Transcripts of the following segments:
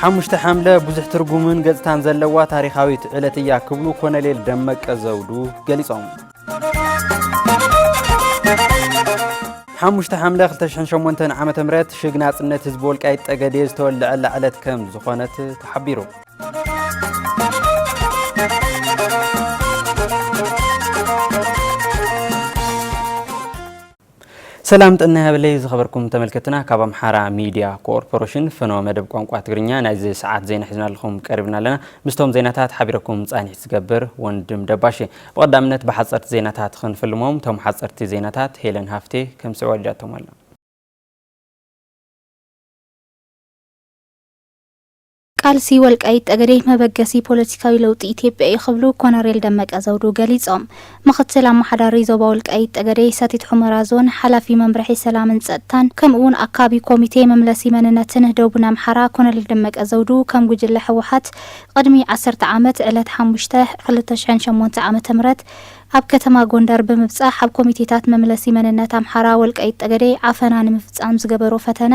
ሓሙሽተ ሓምለ ብዙሕ ትርጉምን ገጽታን ዘለዋ ታሪኻዊት ዕለት እያ ክብሉ ኮነሌል ደመቀ ዘውዱ ገሊጾም። ሓሙሽተ ሓምለ 2008 ዓ ም ሽግ ናጽነት ህዝቢ ወልቃይት ጠገዴ ዝተወልዐላ ዕለት ከም ዝኾነት ተሓቢሩ ሰላም ጥዕና ይሃበለይ ዝኸበርኩም ተመልከትና ካብ ኣምሓራ ሚድያ ኮርፖረሽን ፍኖ መደብ ቋንቋ ትግርኛ ናይዚ ሰዓት ዜና ሒዝናልኹም ቀሪብና ኣለና ምስቶም ዜናታት ሓቢረኩም ፃኒሒት ዝገብር ወንድም ደባሽ ብቐዳምነት ብሓፀርቲ ዜናታት ክንፍልሞም ቶም ሓፀርቲ ዜናታት ሄለን ሃፍቴ ከምስዑ ኣልዳቶም ኣላ ቃልሲ ወልቃይት ጠገዴ መበገሲ ፖለቲካዊ ለውጢ ኢትዮጵያ እዩ ክብሉ ኮነሬል ደመቀ ዘውዱ ገሊፆም። ምኽትል ኣመሓዳሪ ዞባ ወልቃይት ጠገዴ ሰቲት ሑመራ ዞን ሓላፊ መምርሒ ሰላምን ፀጥታን ከምኡ እውን ኣካቢ ኮሚቴ መምለሲ መንነትን ደቡን ኣምሓራ ኮነሬል ደመቀ ዘውዱ ከም ጉጅለ ህወሓት ቕድሚ ዓሰርተ ዓመት ዕለት ሓሙሽተ ክልተ ሽሕን ሸሞንተ ዓመተ ምህረት ኣብ ከተማ ጎንደር ብምብፃሕ ኣብ ኮሚቴታት መምለሲ መንነት ኣምሓራ ወልቃይት ጠገዴ ዓፈና ንምፍፃም ዝገበሮ ፈተነ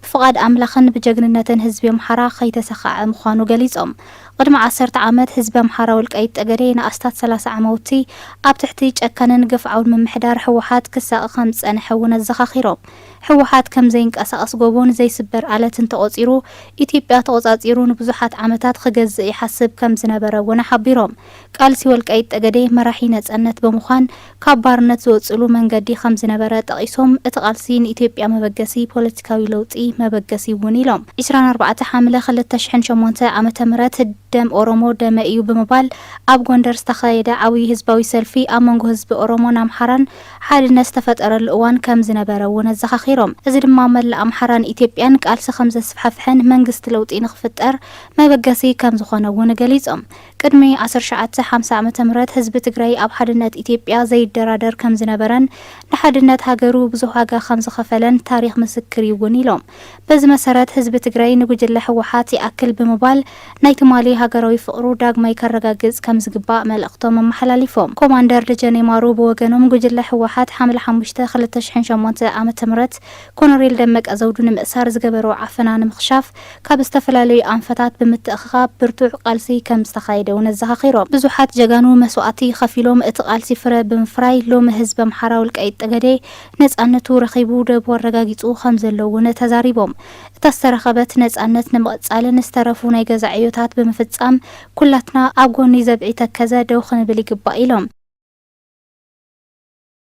ፍቓድ ኣምላኽን ብጀግንነትን ህዝቢ ኣምሓራ ከይተሰኸዐ ምዃኑ ገሊጾም። ቕድሚ ዓሰርተ ዓመት ህዝቢ ኣምሓራ ወልቃይት ጠገዴ ንኣስታት ሰላሳ ዓማውቲ ኣብ ትሕቲ ጨካንን ግፍዓውን ምምሕዳር ህወሓት ክሳቐ ከም ዝጸንሐ እውን ኣዘኻኺሮም። ህወሓት ከም ዘይንቀሳቐስ ጎቦን ዘይስበር ኣለትን ተቖጺሩ ኢትዮጵያ ተቖጻጺሩ ንብዙሓት ዓመታት ኽገዝእ ይሓስብ ከም ዝነበረ እውን ሓቢሮም። ቃልሲ ወልቃይት ጠገዴ መራሒ ነፀነት ብምዃን ካብ ባርነት ዝወፅእሉ መንገዲ ከምዝነበረ ጠቒሶም፣ እቲ ቃልሲ ንኢትዮጵያ መበገሲ ፖለቲካዊ ለውጢ መበገሲ እዩ እውን ኢሎም። ዕስራን ኣርባዕተ ሓምለ ክልተ ሽሕን ሸሞንተ ዓመተ ምህረት ደም ኦሮሞ ደመይ እዩ ብምባል ኣብ ጎንደር ዝተኻየደ ዓብዩ ህዝባዊ ሰልፊ ኣብ መንጎ ህዝቢ ኦሮሞን ኣምሓራን ሓድነት ዝተፈጠረሉ እዋን ከምዝነበረ እውን ኣዘኻኺሮም። እዚ ድማ መላእ ኣምሓራን ኢትዮጵያን ቃልሲ ከምዘስፋሕፍሕን መንግስቲ ለውጢ ንኽፍጠር መበገሲ ከምዝኾነ እውን ገሊፆም። ቅድሚ ዓሰርተ ትሽዓተ ሓምሳ ዓመተ ምህረት ህዝቢ ትግራይ ኣብ ሓድነት ኢትዮጵያ ዘይደራደር ከምዝነበረን ንሓድነት ሃገሩ ብዙሕ ዋጋ ከምዝኸፈለን ታሪኽ ምስክር ዩ ውን ኢሎም። በዚ መሰረት ህዝቢ ትግራይ ንጉጅለ ህወሓት ይኣክል ብምባል ናይ ትማሊ ሃገራዊ ፍቕሩ ዳግማይ ከረጋግፅ ከምዝግባእ መልእኽቶም ኣመሓላሊፎም። ኮማንደር ደጀኔ ማሩ ብወገኖም ጉጅለ ህወሓት ሓምለ ሓሙሽተ ክልተ ሺሕን ሸሞንተ ዓመተ ምህረት ኮነሬል ደመቀ ዘውዱ ንምእሳር ዝገበርዎ ዓፈና ንምኽሻፍ ካብ ዝተፈላለዩ ኣንፈታት ብምትእኽኻብ ብርቱዕ ቃልሲ ከም ዝተኻየደ እውን ኣዘኻኺሮም። ብዙሓት ጀጋኑ መስዋእቲ ኸፊሎም እቲ ቃልሲ ፍረ ብምፍራይ ሎሚ ህዝቢ ኣምሓራ ወልቃይት ጠገዴ ነፃነቱ ረኺቡ ደቡ ኣረጋጊፁ ከም ዘሎ እውን ተዛሪቦም። እታ ዝተረኸበት ነፃነት ንምቕፃልን ዝተረፉ ናይ ገዛ ዕዮታት ብምፍፃም ኩላትና ኣብ ጎኒ ዘብዒ ተከዘ ደው ክንብል ይግባእ ኢሎም።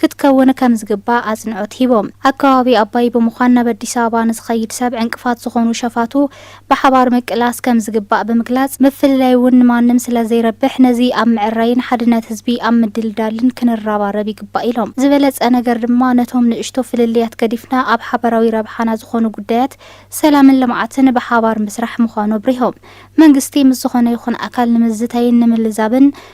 ክትከውን ከምዝግባእ ኣፅንዖት ሂቦም። ኣብ ከባቢ ኣባይ ብምዃን ናብ ኣዲስ ኣበባ ንዝኸይድ ሰብ ዕንቅፋት ዝኾኑ ሸፋቱ ብሓባር ምቅላስ ከምዝግባእ ብምግላፅ፣ ምፍልላይ እውን ንማንም ስለዘይረብሕ ነዚ ኣብ ምዕራይን ሓድነት ህዝቢ ኣብ ምድልዳልን ክንረባረብ ይግባእ ኢሎም። ዝበለፀ ነገር ድማ ነቶም ንእሽቶ ፍልልያት ገዲፍና ኣብ ሓበራዊ ረብሓና ዝኾኑ ጉዳያት ሰላምን ልምዓትን ብሓባር ምስራሕ ምዃኑ ኣብሪሆም። መንግስቲ ምስ ዝኾነ ይኹን ኣካል ንምዝታይን ንምልዛብን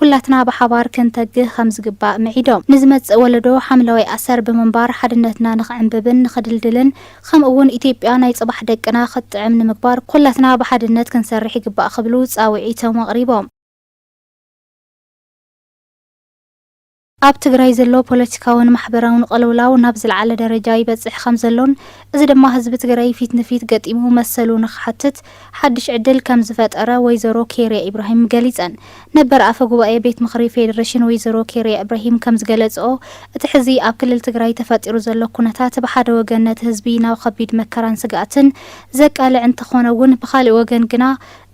ኩላትና ብሓባር ክንተግህ ከምዝግባእ ምዒዶም፣ ንዝመጽእ ወለዶ ሓምለዋይ ኣሰር ብምንባር ሓድነትና ንኽዕንብብን ንኽድልድልን ከምኡ እውን ኢትዮጵያ ናይ ጽባሕ ደቅና ክትጥዕም ንምግባር ኩላትና ብሓድነት ክንሰርሕ ይግባእ ክብሉ ጻውዒቶም ኣቕሪቦም። ኣብ ትግራይ ዘሎ ፖለቲካውን ማሕበራውን ቕልውላው ናብ ዝልዓለ ደረጃ ይበፅሕ ከምዘሎን እዚ ድማ ህዝቢ ትግራይ ፊት ንፊት ገጢሙ መሰሉ ንክሓትት ሓዱሽ ዕድል ከምዝፈጠረ ወይዘሮ ኬርያ ኢብራሂም ገሊፀን ነበር ኣፈ ጉባኤ ቤት ምኽሪ ፌዴሬሽን ወይዘሮ ኬርያ እብራሂም ከምዝገለፅኦ እቲ ሕዚ ኣብ ክልል ትግራይ ተፈጢሩ ዘሎ ኩነታት ብሓደ ወገን ነቲ ህዝቢ ናብ ኸቢድ መከራን ስግኣትን ዘቃልዕ እንተኾነ እውን ብኻሊእ ወገን ግና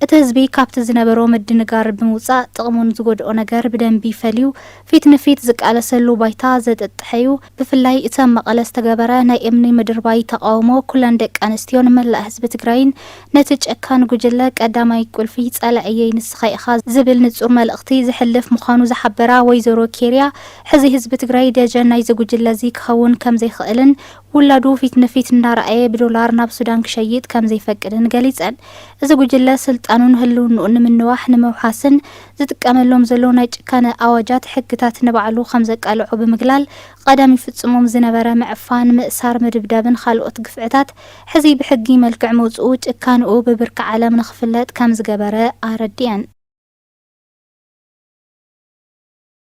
እቲ ህዝቢ ካብቲ ዝነበሮ ምድንጋር ብምውጻእ ጥቕሙን ዝጎድኦ ነገር ብደንቢ ፈልዩ ፊት ንፊት ዝቃለሰሉ ባይታ ዘጥጥሐ'ዩ። ብፍላይ እቲ ኣብ መቐለ ዝተገበረ ናይ እምኒ ምድርባይ ተቓውሞ ኩለን ደቂ ኣንስትዮን መላእ ህዝቢ ትግራይን ነቲ ጨካን ጉጅለ ቀዳማይ ቁልፊ ጸላኢየይ ንስኻ ኢኻ ዝብል ንጹር መልእኽቲ ዘሕልፍ ምዃኑ ዝሓበራ ወይዘሮ ኬርያ ሕዚ ህዝቢ ትግራይ ደጀን ናይዚ ጉጅለ'ዚ ክኸውን ከምዘይኽእልን ውላዱ ፊት ንፊት እንዳረኣየ ብዶላር ናብ ሱዳን ክሸይጥ ከምዘይፈቅድን ገሊጸን። እዚ ጉጅለ ስልጣኑን ህልውንኡን ንምንዋሕ ንምውሓስን ዝጥቀመሎም ዘሎ ናይ ጭካነ ኣዋጃት ሕግታት ንባዕሉ ከምዘቃልዖ ብምግላል ቐደም ይፍጽሞም ዝነበረ ምዕፋን፣ ምእሳር፣ ምድብዳብን ኻልኦት ግፍዕታት ሕዚ ብሕጊ መልክዕ ምውጽኡ ጭካንኡ ብብርኪ ዓለም ንኽፍለጥ ከምዝገበረ ኣረዲኣን።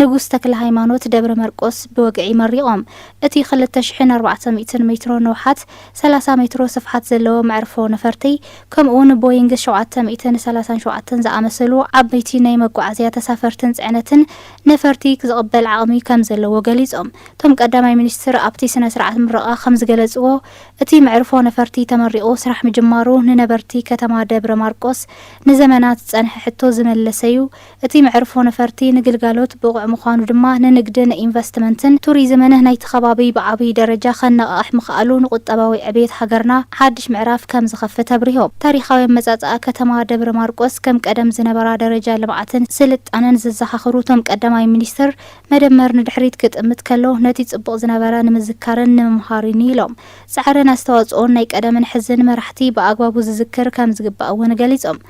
ንጉስ ተክለሃይማኖት ደብረመርቆስ ብወግዒ መሪቖም። እቲ ክልተ ሽሕን ኣርባዕተ ሚእትን ሜትሮ ንውሓት፣ ሰላሳ ሜትሮ ስፍሓት ዘለዎ መዕርፎ ነፈርቲ፣ ከምኡ'ውን ቦይንግ ሸውዓተ ሚእትን ሰላሳን ሸውዓተን ዝኣመሰሉ ዓበይቲ ናይ መጓዓዝያ ተሳፈርትን ጽዕነትን ነፈርቲ ዝቕበል ዓቕሚ ከምዘለዎ ገሊጾም። እቶም ቀዳማይ ሚኒስትር ኣብቲ ስነ-ስርዓት ምረቓ ከምዝገለጽዎ፣ እቲ መዕርፎ ነፈርቲ ተመሪቑ ስራሕ ምጅማሩ ንነበርቲ ከተማ ደብረማርቆስ ንዘመናት ዝጸንሐ ሕቶ ዝመለሰ'ዩ፣ እቲ መዕርፎ ነፈርቲ ንግልጋሎት ብቑዕ ምዃኑ ድማ ንንግዲ፣ ንኢንቨስትመንትን ቱሪዝምን ናይቲ ከባቢ ብዓብዪ ደረጃ ከነቓቕሕ ምኽኣሉ ንቁጠባዊ ዕብየት ሃገርና ሓድሽ ምዕራፍ ከምዝኸፍት ኣብሪሆም። ታሪኻዊ ኣመፃፅኣ ከተማ ደብረ ማርቆስ ከም ቀደም ዝነበራ ደረጃ ልምዓትን ስልጣነን ዘዘኻኽሩ እቶም ቀዳማይ ሚኒስትር፣ መደመር ንድሕሪት ክጥምት ከሎ ነቲ ፅቡቕ ዝነበረ ንምዝካርን ንምምሃርን ኢዩ ኢሎም። ፃዕርን ኣስተዋፅኦን ናይ ቀደምን ሕዝን መራሕቲ ብኣግባቡ ዝዝክር ከምዝግባእ እውን ገሊፆም።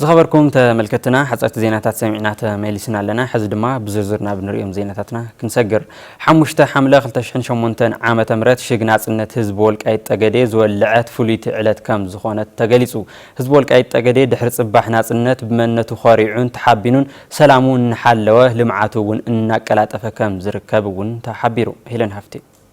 ዝኸበርኩም ተመልከትና ሓፀርቲ ዜናታት ሰሚዕና ተመሊስና ኣለና ሕዚ ድማ ብዝርዝር ናብ ንሪኦም ዜናታትና ክንሰግር ሓሙሽተ ሓምለ 2008 ዓ ም ሽግ ናፅነት ህዝቢ ወልቃይት ጠገዴ ዝወልዐት ፍሉይቲ ዕለት ከም ዝኾነት ተገሊፁ ህዝቢ ወልቃይት ጠገዴ ድሕሪ ፅባሕ ናፅነት ብመነቱ ኸሪዑን ተሓቢኑን ሰላሙ እናሓለወ ልምዓቱ እውን እናቀላጠፈ ከም ዝርከብ እውን ተሓቢሩ ሄለን ሃፍቴ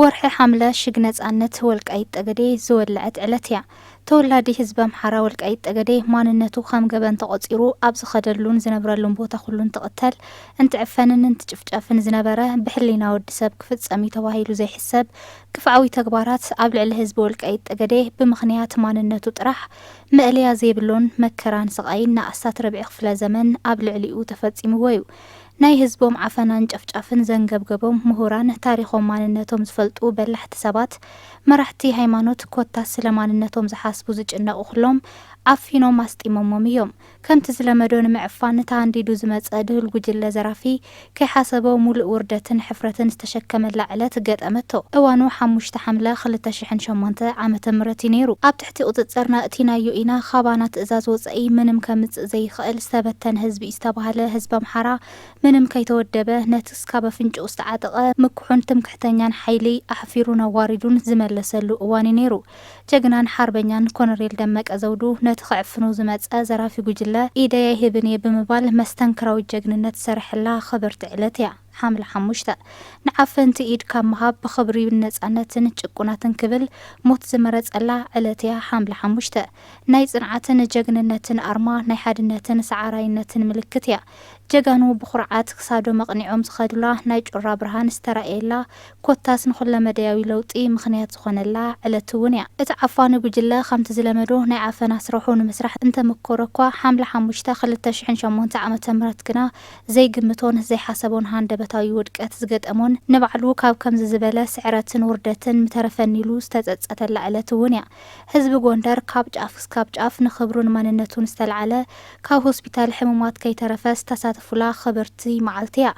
ወርሒ ሓምለ ሽግ ነጻነት ወልቃይት ጠገዴ ዝወለዐት ዕለት እያ። ተወላዲ ህዝቢ ኣምሓራ ወልቃይት ጠገዴ ማንነቱ ከም ገበን ተቖጺሩ ኣብ ዝኸደሉን ዝነብረሉን ቦታ ኩሉ እንትቕተል፣ እንትዕፈንን እንትጭፍጨፍን ዝነበረ ብሕሊና ወዲ ሰብ ክፍጸም እዩ ተባሂሉ ዘይሕሰብ ግፍዓዊ ተግባራት ኣብ ልዕሊ ህዝቢ ወልቃይት ጠገዴ ብምኽንያት ማንነቱ ጥራሕ መእለያ ዘይብሎን መከራን ስቓይን ንኣስታት ርብዒ ክፍለ ዘመን ኣብ ልዕሊኡ ተፈጺምዎ እዩ። ናይ ህዝቦም ዓፈናን ጨፍጫፍን ዘንገብገቦም ምሁራን፣ ታሪኾም ማንነቶም ዝፈልጡ በላሕቲ ሰባት፣ መራሕቲ ሃይማኖት ኮታስ ስለ ማንነቶም ዝሓስቡ ዝጭነቑ ኩሎም ዓፊኖም ኣስጢሞሞም እዮም። ከምቲ ዝለመዶ ንምዕፋን እቲ ኣንዲዱ ዝመጸ ድሁል ጉጅለ ዘራፊ ከይሓሰቦ ሙሉእ ውርደትን ሕፍረትን ዝተሸከመላ ዕለት ገጠመቶ። እዋኑ ሓሙሽተ ሓምለ ክልተ ሽሕን ሸሞንተ ዓመተ ምህረት እዩ ነይሩ። ኣብቲ እቲ ቁፅፅርና እቲ ናዩ ኢና ኻባና ትእዛዝ ወፀኢ ምንም ከምፅእ ዘይኽእል ዝተበተነ ህዝቢ እዩ ዝተባህለ ህዝቢ ኣምሓራ ምንም ከይተወደበ ነቲ እስካብ ኣፍንጭኡ ዝተዓጠቐ ምኩሑን ትምክሕተኛን ሓይሊ ኣሕፊሩን ኣዋሪዱን ዝመለሰሉ እዋን እዩ ነይሩ ጀግናን ሓርበኛን ኮነሬል ደመቀ ዘውዱ ነቲ ኽዕፍኑ ዝመፀ ዘራፊ ጉጅለ ኢደይ ኣይህብን እየ ብምባል መስተንክራዊ ጀግንነት ዝሰርሐላ ኽብርቲ ዕለት እያ። ሓምለ ሓሙሽተ፣ ንዓፈንቲ ኢድ ካብ ምሃብ ብኽብሪ ንነጻነትን ጭቁናትን ክብል ሞት ዝመረጸላ ዕለት'ያ ሓምለ ሓሙሽተ። ናይ ጽንዓትን ጀግንነትን ኣርማ፣ ናይ ሓድነትን ሰዓራይነትን ምልክት'ያ። ጀጋኑ ብኹርዓት ክሳዶም ኣቕኒዖም ዝኸዱላ፣ ናይ ጩራ ብርሃን ዝተራእየላ፣ ኮታስ ንኹለመደያዊ ለውጢ ምኽንያት ዝኾነላ ዕለት'ውን'ያ። እቲ ዓፋኒ ጉጅለ ከምቲ ዝለመዶ ናይ ዓፈና ስራሑ ንምስራሕ እንተመኮረ'ኳ፣ ሓምለ ሓሙሽተ ክልተ ሽሕን ሸሞንተ ዓመተ ምህረት ግና፣ ዘይግምቶን ዘይሓሰቦን ሃንደበታዊ ውድቀት ዝገጠሞን ንባዕሉ ካብ ከምዚ ዝበለ ስዕረትን ውርደትን ምተረፈኒ ኢሉ ዝተጸጸተላ ዕለት እውን እያ። ህዝቢ ጎንደር ካብ ጫፍ ክሳብ ጫፍ ንኽብሩን መንነቱን ዝተልዓለ ካብ ሆስፒታል ሕሙማት ከይተረፈ ዝተሳተፉላ ኽብርቲ መዓልቲ እያ።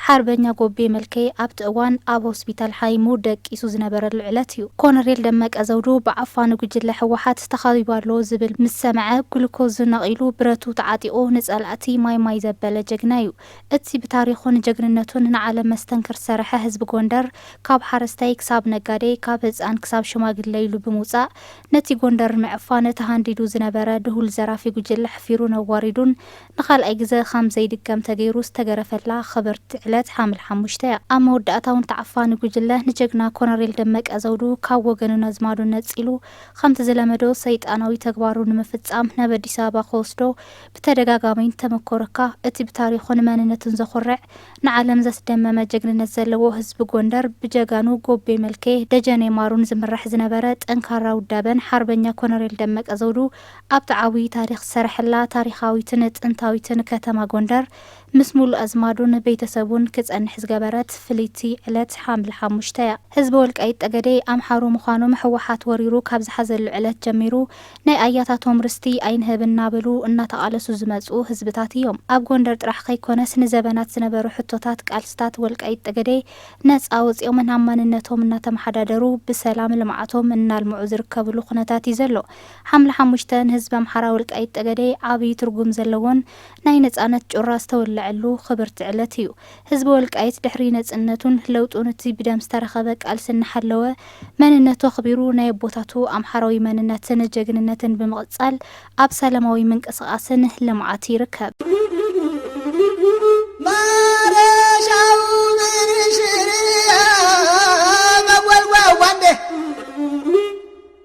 ሓርበኛ ጎቤ መልኬ ኣብቲ እዋን ኣብ ሆስፒታል ሓይሙ ደቂሱ ዝነበረሉ ዕለት እዩ። ኮነሬል ደመቀ ዘውዱ ብዓፋኒ ጉጅለ ህወሓት ተኸቢቡ ኣሎ ዝብል ምስ ሰምዐ ግሉኮዙ ነቒሉ ብረቱ ተዓጢቑ ንጸላእቲ እቲ ማይ ማይ ዘበለ ጀግና እዩ። እቲ ብታሪኹን ጀግንነቱን ንዓለም መስተንክር ዝሰረሐ ህዝቢ ጎንደር ካብ ሓረስታይ ክሳብ ነጋዴ ካብ ህፃን ክሳብ ሽማግለ ኢሉ ብምውፃእ ነቲ ጎንደር ንምዕፋን ተሃንዲዱ ዝነበረ ድሁል ዘራፊ ጉጅለ ኣሕፊሩን ኣዋሪዱን ንካልኣይ ግዘ ኻም ዘይድገም ተገይሩ ዝተገረፈላ ኽብርቲ ዕለት ሓምል ሓሙሽተ እያ። ኣብ መወዳእታውን እቲ ዓፋኒ ጉጅለ ንጀግና ኮነሬል ደመቀ ዘውዱ ካብ ወገኑን ኣዝማዱን ነፂሉ ኸምቲ ዝለመዶ ሰይጣናዊ ተግባሩ ንምፍፃም ናብ ኣዲስ ኣበባ ኽወስዶ ብተደጋጋሚ እንተመኮረካ እቲ ብታሪኹን መንነቱን ዘኹርዕ ንዓለም ዘስደመመ ጀግንነት ዘለዎ ህዝቢ ጎንደር ብጀጋኑ ጎቤ መልኬ፣ ደጀኔ ማሩን ዝምራሕ ዝነበረ ጠንካራ ውዳበን ሓርበኛ ኮነሬል ደመቀ ዘውዱ ኣብቲ ዓብዩ ታሪኽ ዝሰረሐላ ታሪኻዊትን ጥንታዊትን ከተማ ጎንደር ምስ ሙሉእ ኣዝማዱን ቤተሰቡን ክፀንሕ ዝገበረት ፍልይቲ ዕለት ሓምለ ሓሙሽተ እያ። ህዝቢ ወልቃይት ጠገዴ ኣምሓሩ ምዃኖም ህወሓት ወሪሩ ካብ ዝሓዘሉ ዕለት ጀሚሩ ናይ ኣያታቶም ርስቲ ኣይንህብ እናበሉ እናተቓለሱ ዝመፅኡ ህዝብታት እዮም። ኣብ ጎንደር ጥራሕ ከይኮነስ ንዘበናት ዝነበሩ ሕቶታት ቃልስታት ወልቃይት ጠገዴ ነፃ ወፂኦምን ኣብ ማንነቶም እናተመሓዳደሩ ብሰላም ልምዓቶም እናልምዑ ዝርከብሉ ኩነታት እዩ ዘሎ። ሓምለ ሓሙሽተ ንህዝቢ ኣምሓራ ወልቃይት ጠገዴ ዓብይ ትርጉም ዘለዎን ናይ ነፃነት ጩራ ዝተወለዐሉ ክብርቲ ዕለት እዩ። ህዝቢ ወልቃይት ድሕሪ ነጽነቱን ለውጡን እቲ ብደም ዝተረኸበ ቃልሲ እናሓለወ መንነቱ ኣኽቢሩ ናይ ኣቦታቱ ኣምሓራዊ መንነትን ጀግንነትን ብምቕጻል ኣብ ሰላማዊ ምንቅስቓስን ልምዓት ይርከብ።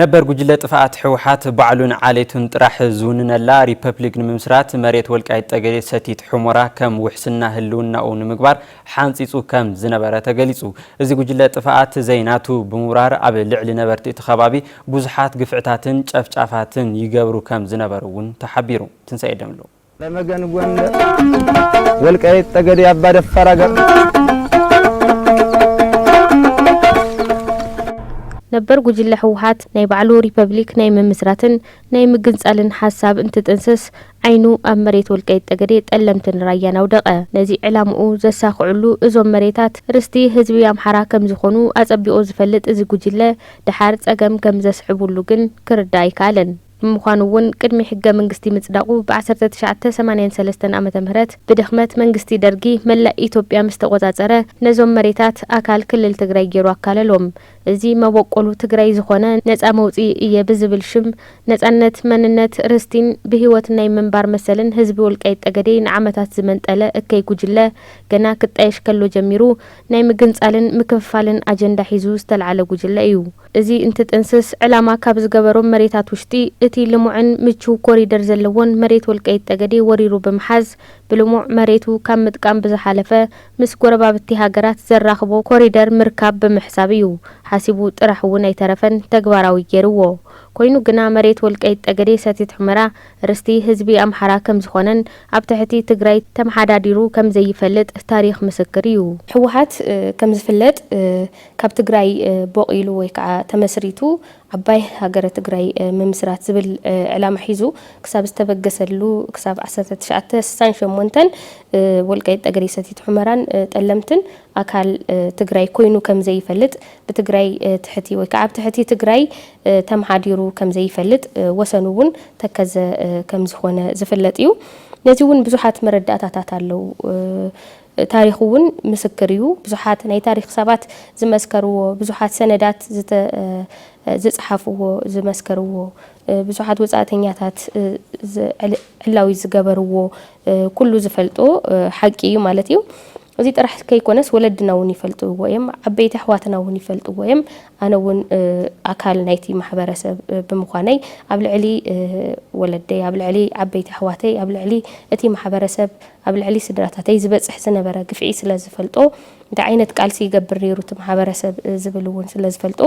ነበር ጉጅለ ጥፍኣት ህወሓት ባዕሉን ዓሌቱን ጥራሕ ዝውንነላ ሪፐብሊክ ንምምስራት መሬት ወልቃይት ጠገዴ ሰቲት ሑሞራ ከም ውሕስና ህልውናኡ ንምግባር ሓንፂፁ ከም ዝነበረ ተገሊፁ። እዚ ጉጅለ ጥፍኣት ዘይናቱ ብምብራር ኣብ ልዕሊ ነበርቲ እቲ ከባቢ ብዙሓት ግፍዕታትን ጨፍጫፋትን ይገብሩ ከም ዝነበሩ እውን ተሓቢሩ። ትንሳኤ ደምሉ ተመገን ጎንደር ወልቃይት ጠገዴ ኣባ ደፋር ነበር ጉጅለ ህወሓት ናይ ባዕሉ ሪፐብሊክ ናይ ምምስራትን ናይ ምግንጻልን ሓሳብ እንትጥንስስ ዓይኑ ኣብ መሬት ወልቃይት ጠገዴ ጠለምትን ራያን ኣውደቐ። ነዚ ዕላምኡ ዘሳኽዕሉ እዞም መሬታት ርስቲ ህዝቢ ኣምሓራ ከም ዝኾኑ ኣጸቢቑ ዝፈልጥ እዚ ጉጅለ ድሓር ጸገም ከም ዘስዕቡሉ ግን ክርዳእ ኣይከኣለን። ንምዃኑ እውን ቅድሚ ሕገ ምንግስቲ ምፅዳቑ ብ ዓሰርተ ትሽዓተ ሰማንያን ሰለስተን ዓመተ ምህረት ብድኽመት መንግስቲ ደርጊ መላእ ኢትዮጵያ ምስ ተቖፃፀረ ነዞም መሬታት ኣካል ክልል ትግራይ ገይሩ ኣካለሎም። እዚ መበቆሉ ትግራይ ዝኾነ ነፃ መውፅኢ እየ ብዝብል ሽም ነፃነት፣ መንነት፣ ርስቲን ብህይወት ናይ ምንባር መሰልን ህዝቢ ወልቃይት ጠገዴ ንዓመታት ዝመንጠለ እከይ ጉጅለ ገና ክጣየሽ ከሎ ጀሚሩ ናይ ምግንፃልን ምክፍፋልን ኣጀንዳ ሒዙ ዝተልዓለ ጉጅለ እዩ። እዚ እንትጥንስስ ዕላማ ካብ ዝገበሮም መሬታት ውሽጢ እቲ ልሙዕን ምችው ኮሪደር ዘለዎን መሬት ወልቀይት ጠገዴ ወሪሩ ብምሓዝ ብልሙዕ መሬቱ ካብ ምጥቃም ብዝሓለፈ ምስ ጎረባብቲ ሃገራት ዘራኽቦ ኮሪደር ምርካብ ብምሕሳብ እዩ። ሓሲቡ ጥራሕ እውን ኣይተረፈን ተግባራዊ ገይርዎ። ኮይኑ ግና መሬት ወልቀይት ጠገዴ ሰቲት ሑመራ ርስቲ ህዝቢ ኣምሓራ ከምዝኾነን ኣብ ትሕቲ ትግራይ ተመሓዳዲሩ ከምዘይፈልጥ ታሪኽ ምስክር እዩ። ህወሓት ከምዝፍለጥ ካብ ትግራይ ቦቂሉ ወይ ከዓ ተመስሪቱ ዓባይ ሃገረ ትግራይ ምምስራት ዝብል ዕላማ ሒዙ ክሳብ ዝተበገሰሉ ክሳብ ዓሰርተ ትሽዓተ ስሳን ሸሞንተን ወልቃይት ጠገዴ ሰቲት ሑመራን ጠለምትን ኣካል ትግራይ ኮይኑ ከምዘይፈልጥ ብትግራይ ትሕቲ ወይ ከዓ ኣብ ትሕቲ ትግራይ ተምሓዲሩ ከምዘይፈልጥ ወሰኑ እውን ተከዘ ከምዝኾነ ዝፍለጥ እዩ። ነዚ እውን ብዙሓት መረዳእታታት ኣለው። ታሪኹ ውን ምስክር እዩ። ብዙሓት ናይ ታሪኽ ሰባት ዝመስከርዎ፣ ብዙሓት ሰነዳት ዝጸሓፍዎ ዝመስከርዎ፣ ብዙሓት ወጻእተኛታት ዕላዊ ዝገበርዎ ኩሉ ዝፈልጦ ሓቂ እዩ ማለት እዩ። እዚ ጥራሕ ከይኮነስ ወለድና ውን ይፈልጥዎ እዮም፣ ዓበይቲ ኣሕዋትና ውን ይፈልጥዎ እዮም፣ ኣነ እውን ኣካል ናይቲ ማሕበረሰብ ብምዃነይ ኣብ ልዕሊ ወለደይ፣ ኣብ ልዕሊ ዓበይቲ ኣሕዋተይ፣ ኣብ ልዕሊ እቲ ማሕበረሰብ፣ ኣብ ልዕሊ ስድራታተይ ዝበፅሕ ዝነበረ ግፍዒ ስለዝፈልጦ፣ እንታይ ዓይነት ቃልሲ ይገብር ነይሩ እቲ ማሕበረሰብ ዝብል እውን ስለዝፈልጦ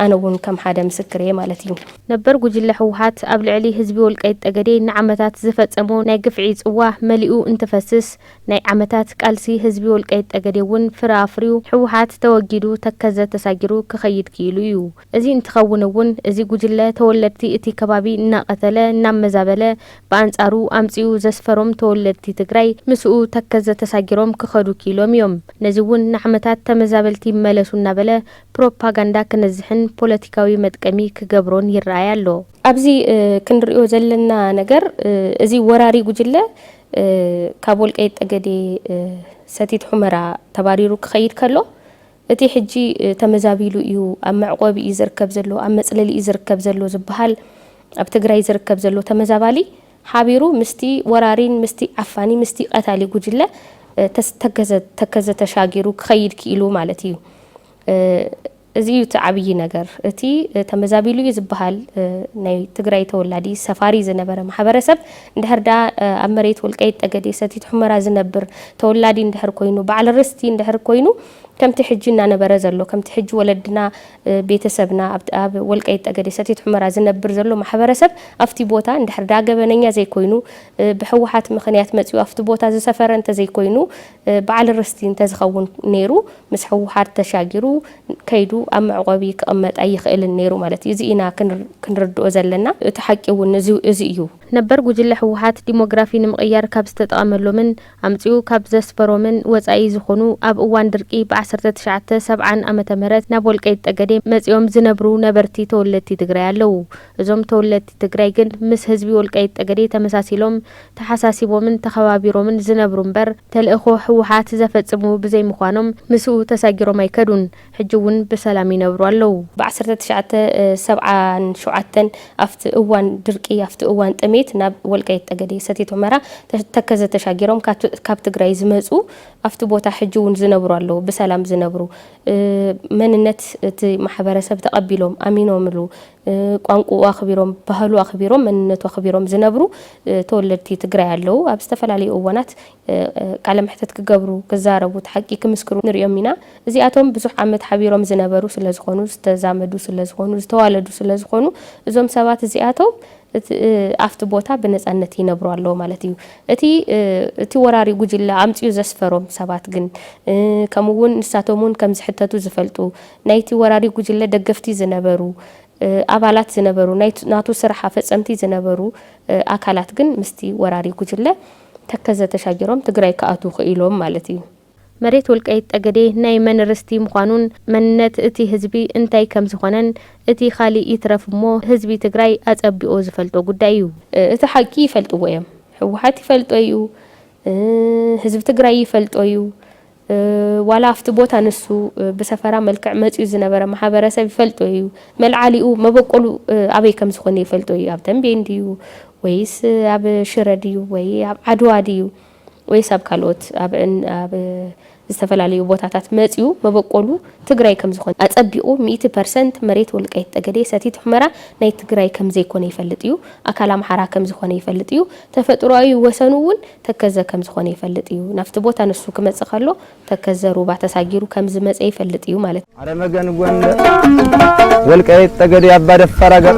ኣነ እውን ከም ሓደ ምስክር እየ ማለት እዩ። ነበር ጉጅለ ህወሓት ኣብ ልዕሊ ህዝቢ ወልቃይት ጠገዴ ንዓመታት ዝፈፀሞ ናይ ግፍዒ ፅዋ መሊኡ እንትፈስስ፣ ናይ ዓመታት ቃልሲ ህዝቢ ወልቃይት ጠገዴ እውን ፍረ ኣፍርዩ ህወሓት ተወጊዱ ተከዘ ተሳጊሩ ክኸይድ ክኢሉ እዩ። እዚ እንትኸውን እውን እዚ ጉጅለ ተወለድቲ እቲ ከባቢ እናቐተለ እናመዛበለ ብኣንፃሩ ኣምፂኡ ዘስፈሮም ተወለድቲ ትግራይ ምስኡ ተከዘ ተሳጊሮም ክኸዱ ክኢሎም እዮም። ነዚ እውን ንዓመታት ተመዛበልቲ ይመለሱ እናበለ ፕሮፓጋንዳ ክነዝሕን ፖለቲካዊ መጥቀሚ ክገብሮን ይረኣይ ኣሎ። ኣብዚ ክንሪኦ ዘለና ነገር እዚ ወራሪ ጉጅለ ካብ ወልቀይት ጠገዴ ሰቲት ሑመራ ተባሪሩ ክኸይድ ከሎ እቲ ሕጂ ተመዛቢሉ እዩ ኣብ መዕቆቢ እዩ ዝርከብ ዘሎ ኣብ መፅለሊ እዩ ዝርከብ ዘሎ ዝበሃል ኣብ ትግራይ ዝርከብ ዘሎ ተመዛባሊ ሓቢሩ ምስቲ ወራሪን ምስቲ ዓፋኒ ምስቲ ቀታሊ ጉጅለ ተከዘ ተከዘ ተሻጊሩ ክኸይድ ክኢሉ ማለት እዩ። እዚ እዩ እቲ ዓብዪ ነገር። እቲ ተመዛቢሉ እዩ ዝበሃል ናይ ትግራይ ተወላዲ ሰፋሪ ዝነበረ ማሕበረሰብ እንድሕር ድኣ ኣብ መሬት ወልቃይት ጠገዴ ሰቲት ሑመራ ዝነብር ተወላዲ እንድሕር ኮይኑ በዓል ርስቲ እንድሕር ኮይኑ ከምቲ ሕጂ እናነበረ ዘሎ ከምቲ ሕጂ ወለድና ቤተሰብና ኣብ ወልቃይት ጠገዴ ሰቲት ሑመራ ዝነብር ዘሎ ማሕበረሰብ ኣፍቲ ቦታ እንድሕር ድኣ ገበነኛ ዘይኮይኑ ብሕወሓት ምኽንያት መፂኡ ኣፍቲ ቦታ ዝሰፈረ እንተዘይኮይኑ በዓል ርስቲ እንተዝኸውን ነይሩ ምስ ህወሓት ተሻጊሩ ከይዱ ኣብ መዕቖቢ ክቕመጥ ኣይኽእልን ነይሩ ማለት እዩ። እዚ ኢና ክንርድኦ ዘለና። እቲ ሓቂ እውን እዚ እዩ። ነበር ጉጅለ ህወሓት ዲሞግራፊ ንምቕያር ካብ ዝተጠቐመሎምን ኣምፂኡ ካብ ዘስፈሮምን ወፃኢ ዝኾኑ ኣብ እዋን ድርቂ ብ ዓሰርተ ትሽዓተ ሰብዓን ዓመተ ምህረት ናብ ወልቀይት ጠገዴ መፂኦም ዝነብሩ ነበርቲ ተወለድቲ ትግራይ ኣለዉ። እዞም ተወለድቲ ትግራይ ግን ምስ ህዝቢ ወልቃይት ጠገዴ ተመሳሲሎም ተሓሳሲቦምን ተኸባቢሮምን ዝነብሩ እምበር ተልእኾ ህወሓት ዘፈፅሙ ብዘይምዃኖም ምስኡ ተሳጊሮም ኣይከዱን። ሕጂ እውን ብሰላም ይነብሩ ኣለዉ። ብ ዓሰርተ ትሽዓተ ሰብዓን ሸውዓተን ኣብቲ እዋን ድርቂ ኣብቲ እዋን ጥሜት ናብ ወልቃይት ጠገዴ ሰቲት ሑመራ ተከዘ ተሻጊሮም ካብ ትግራይ ዝመፁ ኣብቲ ቦታ ሕጂ እውን ዝነብሩ ኣለዉ ብሰላም ዝነብሩ መንነት እቲ ማሕበረሰብ ተቐቢሎም ኣሚኖምሉ ቋንቁኡ ኣኽቢሮም፣ ባህሉ ኣኽቢሮም፣ መንነቱ ኣኽቢሮም ዝነብሩ ተወለድቲ ትግራይ ኣለዉ። ኣብ ዝተፈላለዩ እዋናት ቃለ መሕተት ክገብሩ፣ ክዛረቡ፣ እቲ ሓቂ ክምስክሩ ንሪኦም ኢና። እዚኣቶም ብዙሕ ዓመት ሓቢሮም ዝነበሩ ስለዝኾኑ፣ ዝተዛመዱ ስለዝኾኑ፣ ዝተዋለዱ ስለዝኾኑ እዞም ሰባት እዚኣቶም እቲ ኣፍቲ ቦታ ብነጻነት ይነብሩ ኣለዉ ማለት እዩ። እቲ እቲ ወራሪ ጉጅለ ኣምጺኡ ዘስፈሮም ሰባት ግን፣ ከምኡ እውን ንሳቶም እውን ከም ዝሕተቱ ዝፈልጡ፣ ናይቲ ወራሪ ጉጅለ ደገፍቲ ዝነበሩ፣ ኣባላት ዝነበሩ፣ ናይ ናቱ ስራሕ ኣፈጸምቲ ዝነበሩ ኣካላት ግን ምስቲ ወራሪ ጉጅለ ተከዘ ተሻጊሮም ትግራይ ክኣትዉ ክኢሎም ማለት እዩ። መሬት ወልቃይት ጠገዴ ናይ መን ርስቲ ምዃኑን መንነት እቲ ህዝቢ እንታይ ከምዝኾነን እቲ ካሊእ ይትረፍ እሞ ህዝቢ ትግራይ ኣፀቢቑ ዝፈልጦ ጉዳይ እዩ። እቲ ሓቂ ይፈልጥዎ እዮም ህወሓት ይፈልጦ እዩ ህዝቢ ትግራይ ይፈልጦ እዩ ዋላ ኣብቲ ቦታ ንሱ ብሰፈራ መልክዕ መፂኡ ዝነበረ ማሕበረሰብ ይፈልጦ እዩ መልዓሊኡ መበቆሉ ኣበይ ከምዝኾነ ይፈልጦ እዩ ኣብ ተምቤን ድዩ ወይስ ኣብ ሽረ ድዩ ወይ ኣብ ዓድዋ ድዩ ወይስ ኣብ ካልኦት ኣብ ኣብ ዝተፈላለዩ ቦታታት መፅዩ መበቆሉ ትግራይ ከምዝኾነ ኣፀቢቑ ሚእቲ ፐርሰንት መሬት ወልቃይት ጠገዴ ሰቲት ሑመራ ናይ ትግራይ ከምዘይኮነ ይፈልጥ እዩ ኣካል ኣምሓራ ከምዝኾነ ይፈልጥ እዩ ተፈጥሮኣዊ ወሰኑ እውን ተከዘ ከምዝኾነ ይፈልጥ እዩ ናፍቲ ቦታ ንሱ ክመፅእ ከሎ ተከዘ ሩባ ተሳጊሩ ከምዝመፀ ይፈልጥ እዩ ማለት ኣረ መገን ጎንደር ወልቃይት ጠገዴ ኣባ ደፋር ኣገር።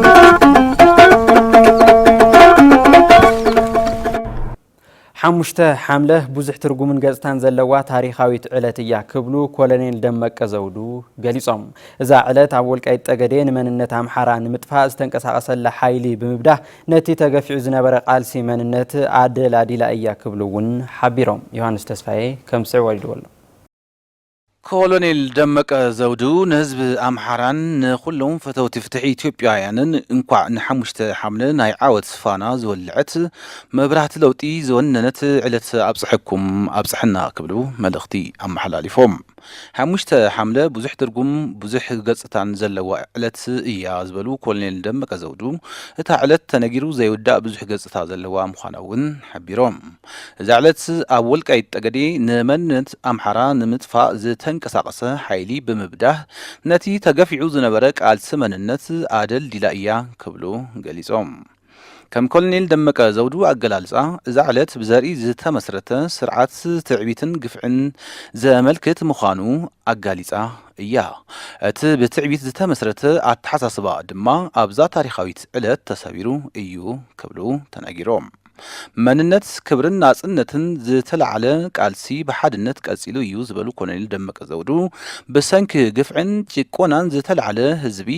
ሓሙሽተ ሓምለ ብዙሕ ትርጉምን ገፅታን ዘለዋ ታሪኻዊት ዕለት እያ ክብሉ ኮሎኔል ደመቀ ዘውዱ ገሊፆም። እዛ ዕለት ኣብ ወልቃይት ጠገዴ ንመንነት ኣምሓራ ንምጥፋእ ዝተንቀሳቐሰላ ሓይሊ ብምብዳህ ነቲ ተገፊዑ ዝነበረ ቃልሲ መንነት ኣደላዲላ እያ ክብሉ እውን ሓቢሮም። ዮሃንስ ተስፋዬ ከም ዝስዕብ ኣልዲዎ ኣሎ። ኮሎኔል ደመቀ ዘውዱ ንህዝቢ ኣምሓራን ንኹሎም ፈተውቲ ፍትሒ ኢትዮጵያውያንን እንኳዕ ንሓሙሽተ ሓምለ ናይ ዓወት ፋና ዝወልዐት መብራህቲ ለውጢ ዝወነነት ዕለት ኣብፀሐኩም ኣብፀሐና ክብሉ መልእኽቲ ኣመሓላሊፎም። ሓሙሽተ ሓምለ ብዙሕ ትርጉም ብዙሕ ገፅታን ዘለዋ ዕለት እያ ዝበሉ ኮሎኔል ደመቀ ዘውዱ እታ ዕለት ተነጊሩ ዘይውዳእ ብዙሕ ገፅታ ዘለዋ ምዃና እውን ሓቢሮም። እዛ ዕለት ኣብ ወልቃይት ጠገዴ ንመንነት ኣምሓራ ንምጥፋእ ዝተንቀሳቐሰ ሓይሊ ብምብዳህ ነቲ ተገፊዑ ዝነበረ ቃልሲ መንነት ኣደልዲላ እያ ክብሉ ገሊፆም። ከም ኮሎኔል ደመቀ ዘውዱ ኣገላልፃ እዛ ዕለት ብዘርኢ ዝተመስረተ ስርዓት ትዕቢትን ግፍዕን ዘመልክት ምዃኑ ኣጋሊፃ እያ። እቲ ብትዕቢት ዝተመስረተ ኣተሓሳስባ ድማ ኣብዛ ታሪኻዊት ዕለት ተሰቢሩ እዩ ክብሉ ተናጊሮም። መንነት፣ ክብርን ናፅነትን ዝተላዕለ ቃልሲ ብሓድነት ቀፂሉ እዩ ዝበሉ ኮሎኔል ደመቀ ዘውዱ፣ ብሰንኪ ግፍዕን ጭቆናን ዝተላዕለ ህዝቢ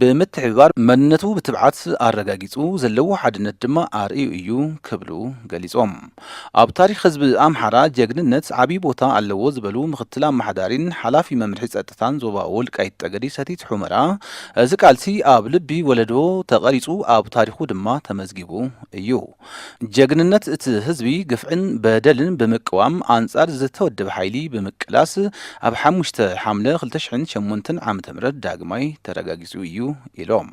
ብምትሕብባር መንነቱ ብትብዓት ኣረጋጊፁ፣ ዘለዎ ሓድነት ድማ ኣርእዩ እዩ ክብሉ ገሊፆም። ኣብ ታሪኽ ህዝቢ ኣምሓራ ጀግንነት ዓብዪ ቦታ ኣለዎ ዝበሉ ምክትል ኣመሓዳሪን ሓላፊ መምርሒ ፀጥታን ዞባ ወልቃይት ጠገዴ ሰቲት ሑመራ፣ እዚ ቃልሲ ኣብ ልቢ ወለዶ ተቐሪፁ ኣብ ታሪኹ ድማ ተመዝጊቡ እዩ። ጀግንነት እቲ ህዝቢ ግፍዕን በደልን ብምቅዋም ኣንጻር ዝተወደበ ሓይሊ ብምቅላስ ኣብ ሓሙሽተ ሓምለ ክልተ ሽሕን ሸሞንተን ዓመተ ምህረት ዳግማይ ተረጋጊጹ እዩ ኢሎም።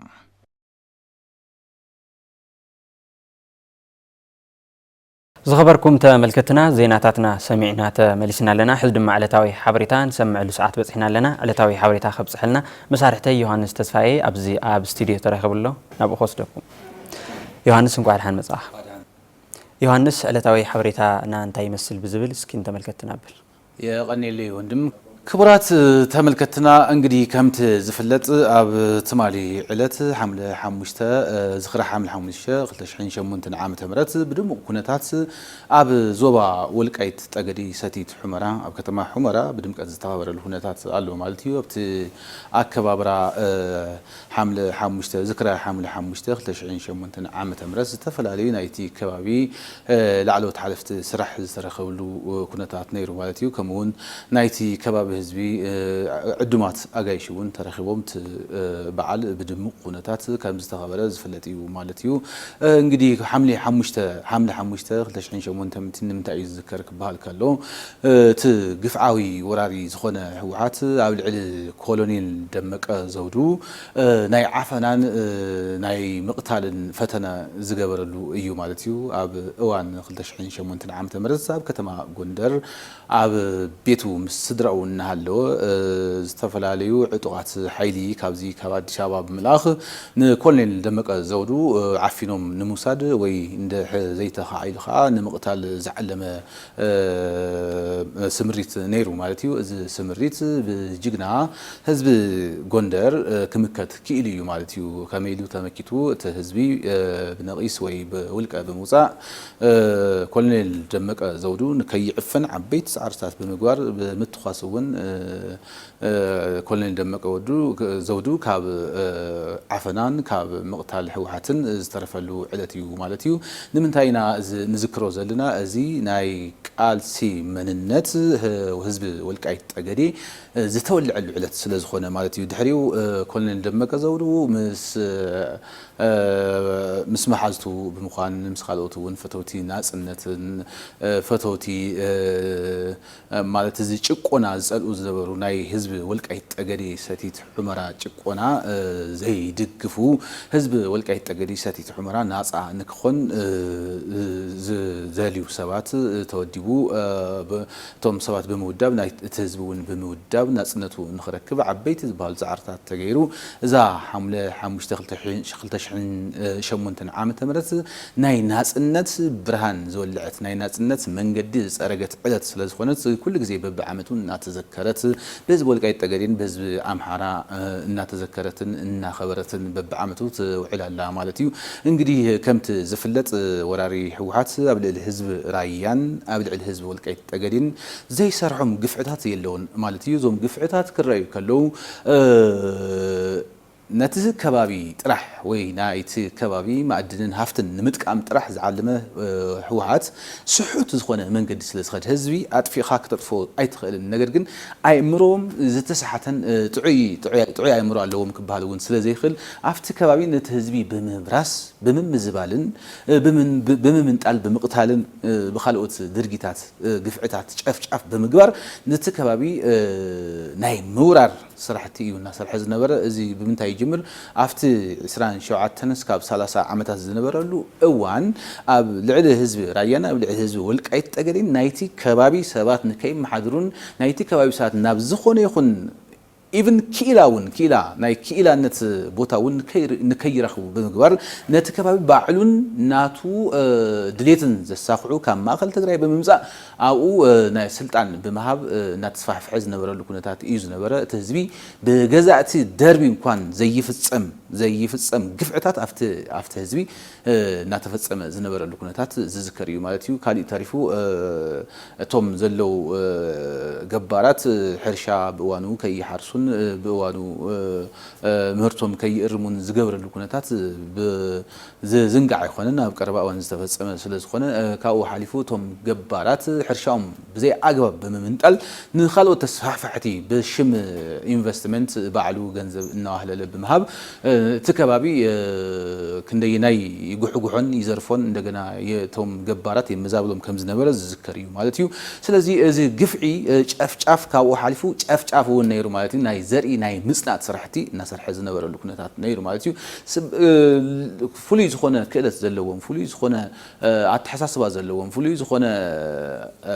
ዝኸበርኩም ተመልከትና ዜናታትና ሰሚዕና ተመሊስና ኣለና። ሕዚ ድማ ዕለታዊ ሓበሬታ ንሰምዐሉ ሰዓት በፂሕና ኣለና። ዕለታዊ ሓበሬታ ከብፅሐልና መሳርሕተይ ዮሃንስ ተስፋዬ ኣብዚ ኣብ ስቱድዮ ተረኺቡ ኣሎ። ናብኡ ክወስደኩም። ዮሃንስ እንቋዕ ድሓን መጻእካ። ዮሃንስ ዕለታዊ ሓበሬታ እና እንታይ ይመስል ብዝብል እስኪ ንተመልከትቲ ናብል። የቐኔለይ ወንድም። ክቡራት ተመልከትትና እንግዲህ ከምቲ ዝፍለጥ ኣብ ትማሊ ዕለት ሓምለ ሓሙሽተ ዝኽሪ ሓምለ ሓሙሽተ ክልተ ሽሕን ሸሞንተን ዓመተ ምህረት ብድሙቕ ኩነታት ኣብ ዞባ ወልቃይት ጠገዴ ሰቲት ሑመራ ኣብ ከተማ ሑመራ ብድምቀት ዝተኸበረሉ ኩነታት ኣሎ ማለት እዩ። ኣብቲ ኣከባብራ ሓምለ ሓሙሽተ፣ ዝክረ ሓምለ ሓሙሽተ ክልተ ሽሕን ሸሞንተን ዓመተ ምህረት ዝተፈላለዩ ናይቲ ከባቢ ላዕለዎት ሓለፍቲ ስራሕ ዝተረከብሉ ኩነታት ነይሩ ማለት እዩ። ከምኡ እውን ናይቲ ከባቢ ህዝቢ ዕዱማት ኣጋይሽ እውን ተረኪቦም እቲ በዓል ብድሙቅ ኩነታት ከምዝተከበረ ዝፍለጥ እዩ ማለት እዩ። እንግዲህ ሓምሌ ሓሙሽተ፣ ሓምለ ሓሙሽተ ክልተ ሽሕን ሸሞንተን፣ ንምንታይ እዩ ዝዝከር ክበሃል ከሎ እቲ ግፍዓዊ ወራሪ ዝኾነ ህወሓት ኣብ ልዕሊ ኮሎኔል ደመቀ ዘውዱ ናይ ዓፈናን ናይ ምቕታልን ፈተነ ዝገበረሉ እዩ ማለት እዩ። ኣብ እዋን ክልተ ሽሕን ሸሞንተን ዓመተ ምህረት ኣብ ከተማ ጎንደር ኣብ ቤቱ ምስ ስድራኡ እናሃለወ ዝተፈላለዩ ዕጡቓት ሓይሊ ካብዚ ካብ ኣዲስ ኣበባ ብምልኣኽ ንኮሎኔል ደመቀ ዘውዱ ዓፊኖም ንምውሳድ ወይ እንድሕር ዘይተኻዒሉ ከዓ ንምቕታል ዝዓለመ ስምሪት ነይሩ ማለት እዩ። እዚ ስምሪት ብጅግና ህዝቢ ጎንደር ክምከት ክኢሉ እዩ ማለት እዩ። ከመይ ኢሉ ተመኪቱ እቲ ህዝቢ ብነቂስ ወይ ብውልቀ ብምውፃእ ኮሎኔል ደመቀ ዘውዱ ንከይዕፈን ዓበይቲ ፃዕርታት ብምግባር ብምትኳስ እውን ኮሎኔል ደመቀ ዘውዱ ካብ ዓፈናን ካብ ምቕታል ህወሓትን ዝተረፈሉ ዕለት እዩ ማለት እዩ። ንምንታይ ኢና እዚ ንዝክሮ ዘለና? እዚ ናይ ቃልሲ መንነት ህዝቢ ወልቃይት ጠገዴ ዝተወለዐሉ ዕለት ስለዝኾነ ማለት እዩ። ድሕሪኡ ኮሎኔል ደመቀ ዘውዱ ምስ ምስ መሓዝቱ ብምዃን ምስ ካልኦት እውን ፈተውቲ ናፅነትን ፈተውቲ ማለት እዚ ጭቆና ዝጸልኡ ዝነበሩ ናይ ህዝቢ ወልቃይት ጠገዴ ሰቲት ሑመራ ጭቆና ዘይድግፉ ህዝቢ ወልቃይት ጠገዴ ሰቲት ሑመራ ናጻ ንክኾን ዝደልዩ ሰባት ተወዲቡ እቶም ሰባት ብምውዳብ ናይ እቲ ህዝቢ እውን ብምውዳብ ናጽነቱ ንክረክብ ዓበይቲ ዝበሃሉ ጻዕርታት ተገይሩ እዛ ሓምለ ሓሙሽተ ክልተ ሽሕን ሸሞንተን ዓመተ ምህረት ናይ ናጽነት ብርሃን ዝወለዐት፣ ናይ ናጽነት መንገዲ ዝጸረገት ዕለት ስለ ዝኾነት ኩሉ ግዜ በብዓመቱ እናተዘከረት ብህዝቢ ወልቃይት ጠገዴን ብህዝቢ ኣምሓራ እናተዘከረትን እናኸበረትን በብዓመቱ ትውዕል ኣላ ማለት እዩ። እንግዲህ ከምቲ ዝፍለጥ ወራሪ ህወሓት ኣብ ልዕሊ ህዝቢ ራያን ኣብ ልዕሊ ህዝቢ ወልቃይት ጠገዴን ዘይሰርሖም ግፍዕታት የለውን ማለት እዩ። እዞም ግፍዕታት ክረኣዩ ከለዉ ነቲ ከባቢ ጥራሕ ወይ ናይቲ ከባቢ ማእድንን ሃፍትን ንምጥቃም ጥራሕ ዝዓለመ ህወሓት ስሑት ዝኾነ መንገዲ ስለ ዝኸድ ህዝቢ ኣጥፊእኻ ክተጥፍኦ ኣይትኽእልን ነገር ግን ኣእምሮኦም ዝተሰሓተን ጥዑይ ጥዑይ ኣእምሮ ኣለዎም ክበሃል እውን ስለ ዘይኽእል ኣብቲ ከባቢ ነቲ ህዝቢ ብምብራስ ብምምዝባልን ብምምንጣል ብምቕታልን ብኻልኦት ድርጊታት ግፍዕታት ጨፍጫፍ ብምግባር ነቲ ከባቢ ናይ ምውራር ስራሕቲ እዩ እናሰርሐ ዝነበረ። እዚ ብምንታይ ይጅምር? ኣብቲ ዕስራን ሸውዓተን እስካብ ሰላሳ ዓመታት ዝነበረሉ እዋን ኣብ ልዕሊ ህዝቢ ራያን ኣብ ልዕሊ ህዝቢ ወልቃይት ጠገዴን ናይቲ ከባቢ ሰባት ንከይመሓድሩን ናይቲ ከባቢ ሰባት ናብ ዝኾነ ይኹን ኢቭን ክኢላ እውን ክኢላ ናይ ክኢላነት ቦታ እውን ንከይረኽቡ ብምግባር ነቲ ከባቢ ባዕሉን ናቱ ድሌትን ዘሳኽዑ ካብ ማእኸል ትግራይ ብምምፃእ ኣብኡ ናይ ስልጣን ብምሃብ እናተስፋሕፍሐ ዝነበረሉ ኩነታት እዩ ዝነበረ። እቲ ህዝቢ ብገዛእቲ ደርቢ እንኳን ዘይፍፀም ዘይፍፀም ግፍዕታት ኣብቲ ኣብቲ ህዝቢ እናተፈፀመ ዝነበረሉ ኩነታት ዝዝከር እዩ ማለት እዩ። ካሊእ ተሪፉ እቶም ዘለው ገባራት ሕርሻ ብእዋኑ ከይሓርሱን ብእዋኑ ምህርቶም ከይእርሙን ዝገብረሉ ኩነታት ብ ዝዝንጋዕ ኣይኮነን ኣብ ቀረባ እዋን ዝተፈፀመ ስለዝኾነ ካብኡ ሓሊፉ እቶም ገባራት ሕርሻኦም ብዘይ ኣግባብ ብምምንጣል ንኻልኦት ተስፋሕፋሕቲ ብሽም ኢንቨስትመንት ባዕሉ ገንዘብ እናዋህለለ ብምሃብ እቲ ከባቢ ክንደየናይ ይጉሕጉሖን ይዘርፎን እንደገና እቶም ገባራት የመዛብሎም ከምዝነበረ ዝዝከር እዩ ማለት እዩ ስለዚ እዚ ግፍዒ ጨፍጫፍ ካብኡ ሓሊፉ ጨፍጫፍ እውን ነይሩ ማለት እዩ ናይ ዘርኢ ናይ ምፅናት ስራሕቲ እናሰርሐ ዝነበረሉ ኩነታት ነይሩ ማለት እዩ ፍሉይ ዝኾነ ክእለት ዘለዎም፣ ፍሉይ ዝኾነ ኣተሓሳስባ ዘለዎም፣ ፍሉይ ዝኾነ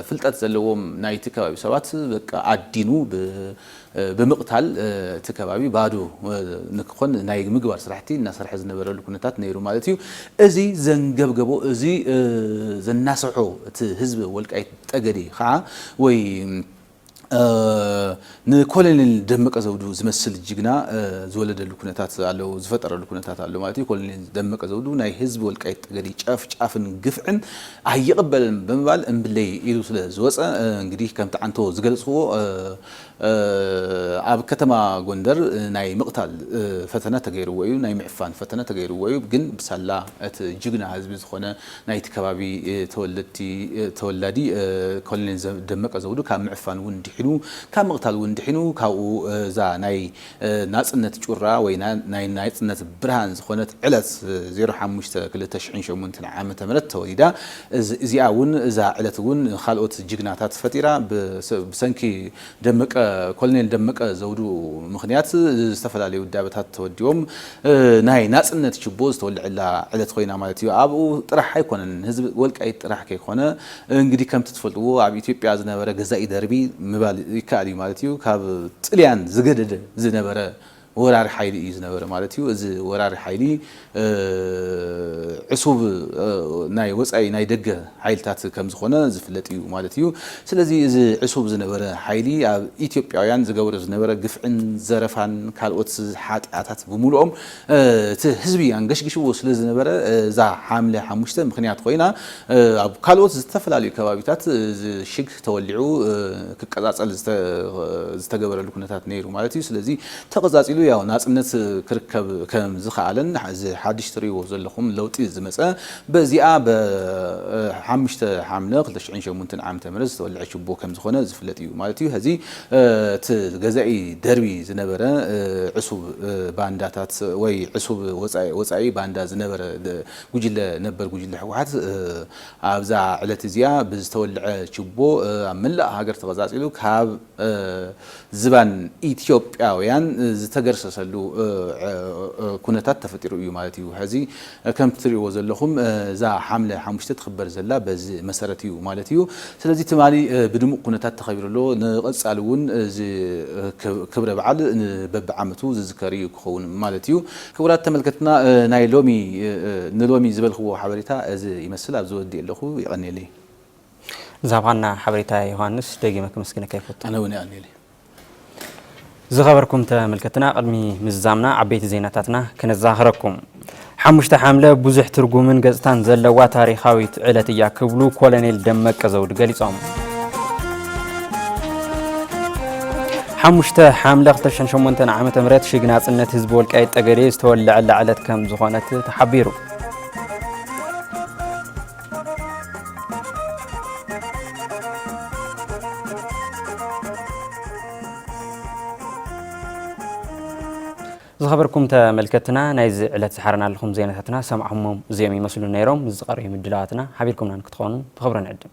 ፍልጠት ዘለዎም ናይቲ ከባቢ ሰባት በቃ ኣዲኑ ብምቕታል እቲ ከባቢ ባዶ ንክኾን ናይ ምግባር ስራሕቲ እናሰርሐ ዝነበረሉ ኩነታት ነይሩ ማለት እዩ። እዚ ዘንገብገቦ እዚ ዘናሰሖ እቲ ህዝቢ ወልቃይት ጠገዴ ከዓ ወይ ንኮለኔል ደመቀ ዘውዱ ዝመስል ጅግና ዝወለደሉ ኩነታት ኣሎ ዝፈጠረሉ ኩነታት ኣሎ ማለት እዩ። ኮለኔል ደመቀ ዘውዱ ናይ ህዝቢ ወልቃይት ጠገዴ ጨፍጫፍን ግፍዕን ኣይቕበልን ብምባል እምብለይ ኢሉ ስለ ዝወፀ እንግዲህ ከምቲ ዓንቶ ዝገለፅክዎ ኣብ ከተማ ጎንደር ናይ ምቕታል ፈተነ ተገይርዎ እዩ፣ ናይ ምዕፋን ፈተነ ተገይርዎ እዩ። ግን ብሳላ እቲ ጅግና ህዝቢ ዝኾነ ናይቲ ከባቢ ተወለድቲ ተወላዲ ኮሎኔል ደመቀ ዘውዱ ካብ ምዕፋን እውን ድሒኑ ካብ ምቕታል እውን ድሒኑ ካብኡ እዛ ናይ ናጽነት ጩራ ወይ ናይ ናጽነት ብርሃን ዝኾነት ዕለት ዜሮ ሓሙሽተ ክልተ ሽሕን ሸሞንተን ዓመተ ምህረት ተወሊዳ እዚኣ እውን እዛ ዕለት እውን ንኻልኦት ጅግናታት ፈጢራ ብሰንኪ ደመቀ፣ ኮሎኔል ደመቀ ዘውዱ ምኽንያት ዝተፈላለዩ ውዳበታት ተወዲቦም ናይ ናጽነት ችቦ ዝተወልዐላ ዕለት ኮይና ማለት እዩ። ኣብኡ ጥራሕ ኣይኮነን ህዝቢ ወልቃይት ጥራሕ ከይኮነ እንግዲህ ከምቲ ትፈልጥዎ ኣብ ኢትዮጵያ ዝነበረ ገዛኢ ደርቢ ምባል ይከኣል እዩ ማለት እዩ ካብ ጥልያን ዝገደደ ዝነበረ ወራሪ ሓይሊ እዩ ዝነበረ ማለት እዩ። እዚ ወራሪ ሓይሊ ዕሱብ ናይ ወጻኢ ናይ ደገ ሓይልታት ከም ዝኾነ ዝፍለጥ እዩ ማለት እዩ። ስለዚ እዚ ዕሱብ ዝነበረ ሓይሊ ኣብ ኢትዮጵያውያን ዝገብሮ ዝነበረ ግፍዕን ዘረፋን ካልኦት ሓጥያታት ብምሉኦም እቲ ህዝቢ ኣንገሽጊሽዎ ስለ ዝነበረ እዛ ሓምለ ሓሙሽተ ምኽንያት ኮይና ኣብ ካልኦት ዝተፈላለዩ ከባቢታት እዚ ሽግ ተወሊዑ ክቀጻጸል ዝተገበረሉ ኩነታት ነይሩ ማለት እዩ። ስለዚ ተቐጻጺሉ ያው ናጽነት ክርከብ ከም ዝኸኣለን እዚ ሓድሽ ትርእይዎ ዘለኹም ለውጢ ዝመጸ በዚኣ ብ ሓሙሽተ ሓምለ ክልተ ሽሕን ሸሞንተን ዓመተ ምህረት ዝተወልዐ ችቦ ከም ዝኾነ ዝፍለጥ እዩ ማለት እዩ። ሀዚ እቲ ገዛኢ ደርቢ ዝነበረ ዕሱብ ባንዳታት ወይ ዕሱብ ወጻኢ ወጻኢ ባንዳ ዝነበረ ጉጅለ ነበር ጉጅለ ህወሓት ኣብዛ ዕለት እዚኣ ብዝተወልዐ ችቦ ኣብ መላእ ሃገር ተቐፃፂሉ ካብ ዝባን ኢትዮጵያውያን ዝተገርሰሰሉ ኩነታት ተፈጢሩ እዩ ማለት እዩ። ሕዚ ከምቲ ትሪእዎ ዘለኹም እዛ ሓምለ ሓሙሽተ ትኽበር ዘላ በዚ መሰረት እዩ ማለት እዩ። ስለዚ ትማሊ ብድሙቕ ኩነታት ተኸቢሩ ኣሎ። ንቐፃሊ እውን እዚ ክብረ በዓል በቢዓመቱ ዝዝከር እዩ ክኸውን ማለት እዩ። ክቡራት ተመልከትና ናይ ሎሚ ንሎሚ ዝበልክዎ ሓበሬታ እዚ ይመስል ኣብዚ ወዲኤ ኣለኹ የቀንየለይ። ንዝሃብኻና ሓበሬታ ዮሃንስ ደጊመ ከመስግነካ ይፈቱ። ኣነ ውን የቀንየለይ። ዝኸበርኩም ተመልከትና ቅድሚ ምዝዛምና ዓበይቲ ዜናታትና ከነዛኽረኩም። ሓሙሽተ ሓምለ ብዙሕ ትርጉምን ገጽታን ዘለዋ ታሪኻዊት ዕለት እያ ክብሉ ኮሎኔል ደመቀ ዘውዱ ገሊጾም። ሓሙሽተ ሓምለ 2008 ዓ ም ሽግ ናፅነት ህዝቢ ወልቃይት ጠገዴ ዝተወለዐላ ዕለት ከም ዝኾነት ተሓቢሩ ዝኸበርኩም ተመልከትና ናይዚ ዕለት ዝሓረና ኣለኹም ዜናታትና ሰማዕኹሞም እዚኦም ይመስሉ ነይሮም ዝቐርዩ ምድላዋትና ሓቢርኩምና ንክትኾኑ ብኽብሪ ንዕድም